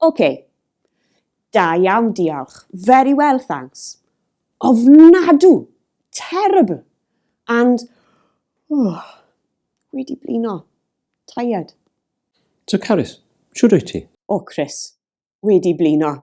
Oce. Da iawn, diolch. Very well, thanks. Ofnadw! Terrible! And... Oh, wedi blino. Tired. So Carys, shwd wyt ti? O Chris, wedi blino.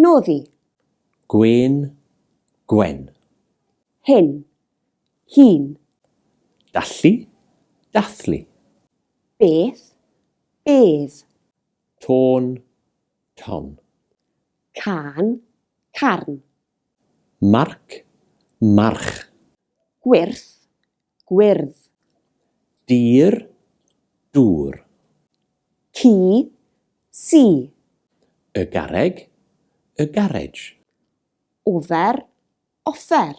Noddi. Gwên, gwen. Hyn, hun. Dallu, dathlu. Beth, bedd. Tôn, ton. Cân, carn. Marc, march. Gwyrth, Gwyrdd. Dur, dŵr. Ci, ci. Y garreg, a garriage. Ofer, offer.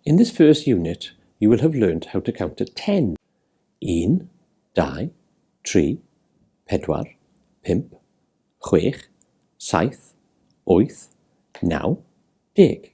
In this first unit, you will have learnt how to count to ten. Un, dau, tri, pedwar, pump, chwech, saith, wyth, naw, deg.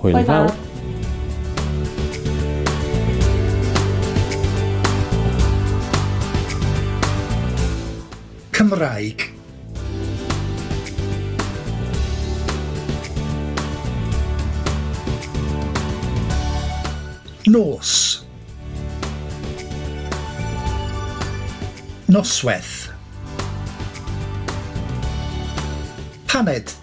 Hwyl fawr. Cymraeg. Nos. Noswaith. Paned.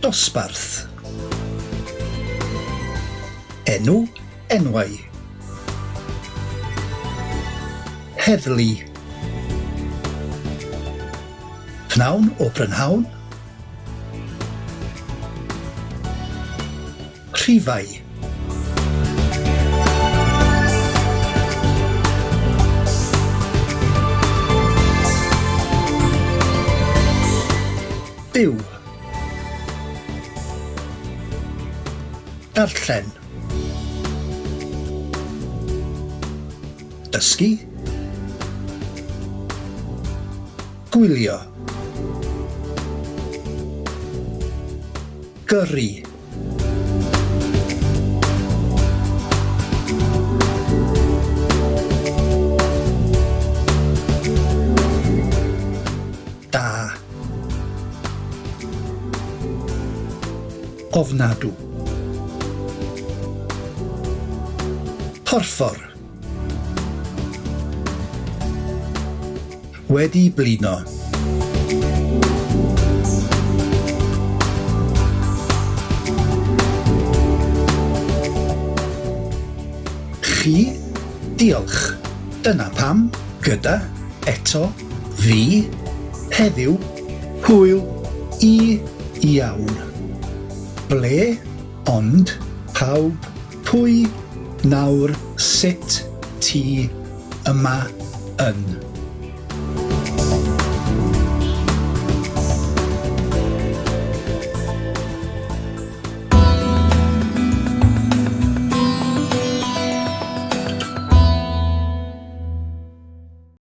Dosbarth Enw Enwau Heddlu Pnawn o brynhawn rhifau. Byw Darllen Dysgu Gwylio Gyrru Da. Ofnadw. Porffor. Wedi blino. Chi? Diolch. Dyna pam, gyda, eto, fi, heddiw, hwyl, i, iawn. Ble, ond, pawb, Pwy, nawr, sut, ti, yma, yn.